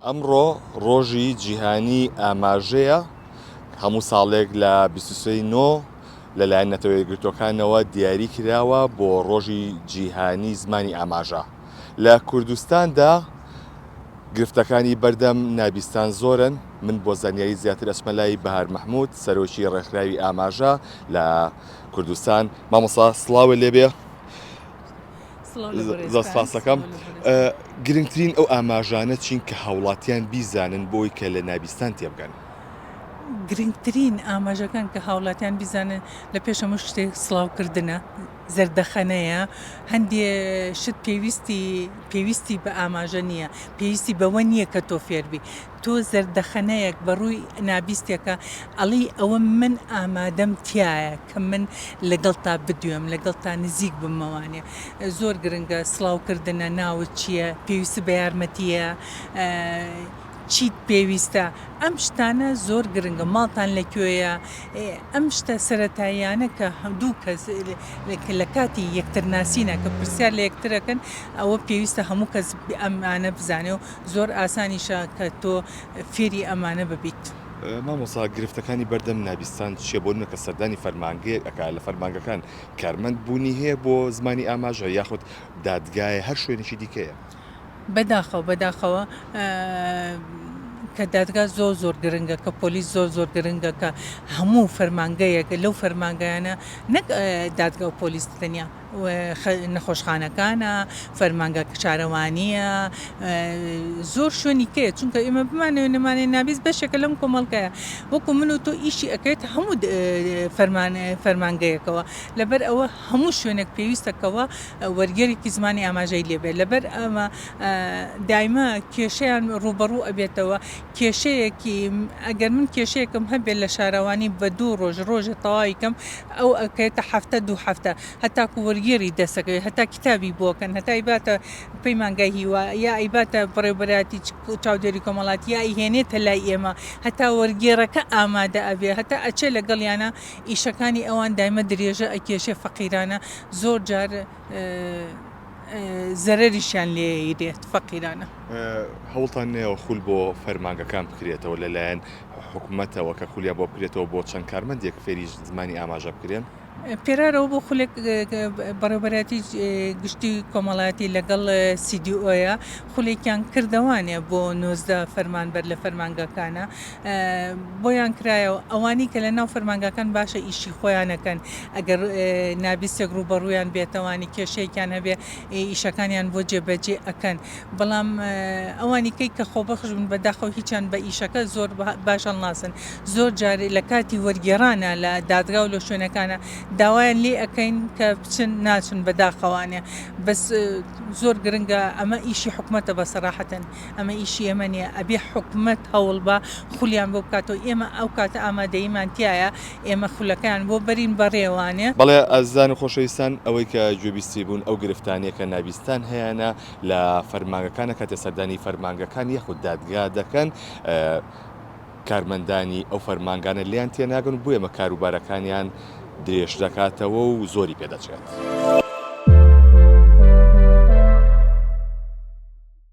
ئەمڕۆ ڕۆژی جیهانی ئاماژەیە، هەموو ساڵێک لە بیست و سێ ی نۆ لەلایەن نەتەوە یەکگرتووەکانەوە دیاری کراوە بۆ ڕۆژی جیهانی زمانی ئاماژە. لە کوردستاندا گرفتەکانی بەردەم نابیستان زۆرن، من بۆ زانیاری زیاتر ئەچمە لای بەهار مەحمود سەرۆکی ڕێکخراوی ئاماژە لە کوردستان. مامۆستا سڵاوێ لێبێ. زۆر سپاس دەکەم. گرنگترین ئەو ئاماژانە چین کە هاوڵاتیان بیزانن بۆی کە لە نابیستان تێبگەن؟ گرنگترین ئاماژەکان کە هاوڵاتیان بیزانن لە پێش هەموو شتێک سڵاوکردنە، زەردەخەنەیە، هەندێ شت پێویستی پێویستی بە ئاماژە نییە، پێویستی بەوە نییە کە تۆ فێربی، تۆ زەردەخەنەیەک بە ڕووی نابیستێکە ئەڵێی ئەوە من ئامادەم تایە. کە من لەگەڵتا بدوێم لەگەڵتا نزیک بمەوانێ زۆر گرنگە سڵاو کردنە ناوت چیە پێویست بە یارمەتیە چیت پێویستە ئەم شتانە زۆر گرنگە ماڵتان لە کوێیە ئەم شتە سەتاییانە کە هەندوو کەس لە کاتی یەکتر ناسینە کە پرسیار لە یەکترەکەن ئەوە پێویستە هەموو کەس ئەمانە بزانێ و زۆر ئاسانیشە کە تۆ فێری ئەمانە ببیت. مامۆستا گرفتەکانی بەردەم نابیستان چیە بۆ نمەکە سەردانی فەرمانگەیەک ئەکا لە فەرمانگەکان کارمەند بوونی هەیە بۆ زمانی ئاماژە یاخود دادگایە هەر شوێنێکی دیکەیە. بەداخەوە بەداخەوە کە دادگا زۆر زۆر گرنگە کە پۆلیس زۆر زۆر گرنگە کە هەموو فەرمانگەیەک لەو فەرمانگەیانە نەک دادگا و پۆلیس تەنیا نەخۆشخانەکانە، فەرمانگە شارەوانییە، زۆر شوێنی کەیە چونکە ئێمە بمانەوێ نەمانەوێ نابیس بەشێکە لەم کۆمەڵگایە وەکو من و تۆ ئیشی ئەکرێت هەموو فەرمانگەیەکەوە لەبەر ئەوە هەموو شوێنێک پێویستەکەەوە وەرگێرێکی زمانی ئاماژەی لێبێ لەبەر ئەمە دایمە کێشیان ڕوبەڕوو ئەبێتەوە. کێشەیەکی ئەگەر من کێشەیەکم هەبێ لە شارەوانی بە دوو ڕۆژ ڕۆژێ تەواوی کەم ئەو ئەکەێتە هەفتە دوو هەفتە هەتاکو وەرگێڕی دەسەکەوێت هەتا کتابی بۆکەن هەتا ئیباتە پەیمانگای هیوا یا ئیباتە بڕێوبەراتی چاودێری کۆمەڵاتی یا ئیهێنێتە لای ئێمە هەتا وەرگێڕەکە ئامادە ئەبێ هەتا ئەچێ لەگەڵیانە ئیشەکانی ئەوان دایمە درێژە ئەکێشێ فەقیرانە زۆر جار زەرەریشیان لێیەیرێت فەقیرانە. هەوڵتان نەیەوە خول بۆ فەرمانگەکان بکرێتەوە لەلایەن حکومەتەوە کە خولیان بۆ بکرێتەوە بۆ چەند کارمەندێک فێری زمانی ئاماژە بکرێن؟ پێرارەوە بۆ خولێک بەڕێوبەرایەتی گشتی کۆمەڵایەتی لەگەڵ سیدیئۆیە خولێکیان کردەوانێ بۆ نۆزدە فەرمانبەر لە فەرمانگەکانە بۆیان کرایەوە ئەوانی کە لەناو فەرمانگاکان باشە ئیشی خۆیانەکەن ئەگەر نابیستێک ڕووبەڕوویان بێتەوانی کێشەیەکیان هەبێ ئیشەکانیان بۆ جێبەجێ ئەکەن بەڵام ئەوانی کەی کە خۆبەخش بن بەداخەوە هیچیان بە ئیشەکە زۆر باش هەڵناسن زۆر جارێ لە کاتی وەرگێرانە لە دادگا و لە شوێنەکانە داوایان لێ ئەەکەین کە بچن ناچن بەداخەوانێ بەس زۆر گرنگە ئەمە ئیشی حکوومەتە بە سەراحەتەن ئەمە ئیشی ئێمە نیە ئەبێ حکومەت هەوڵبا خولیان بۆ بکاتەوە ئێمە ئەو کاتە ئامادەییمان تیایە ئێمە خولەکەیان بۆ بەرین بەڕێوانێ. بەڵێ ئازیزان و خۆشەویستان ئەوەی کە گوێبیستی بوون ئەو گرفتانەیە کە ناڤیستان هەیانە لە فەرمانگەکانە کاتێ سەردانی فەرمانگەکان یاخود دادگا دەکەن کارمەندانی ئەو فەرمانگانە لێیان تێناگەن و بۆیەمە کاروبارەکانیان درێژ دەکاتەوە و زۆری پێ دەچێت.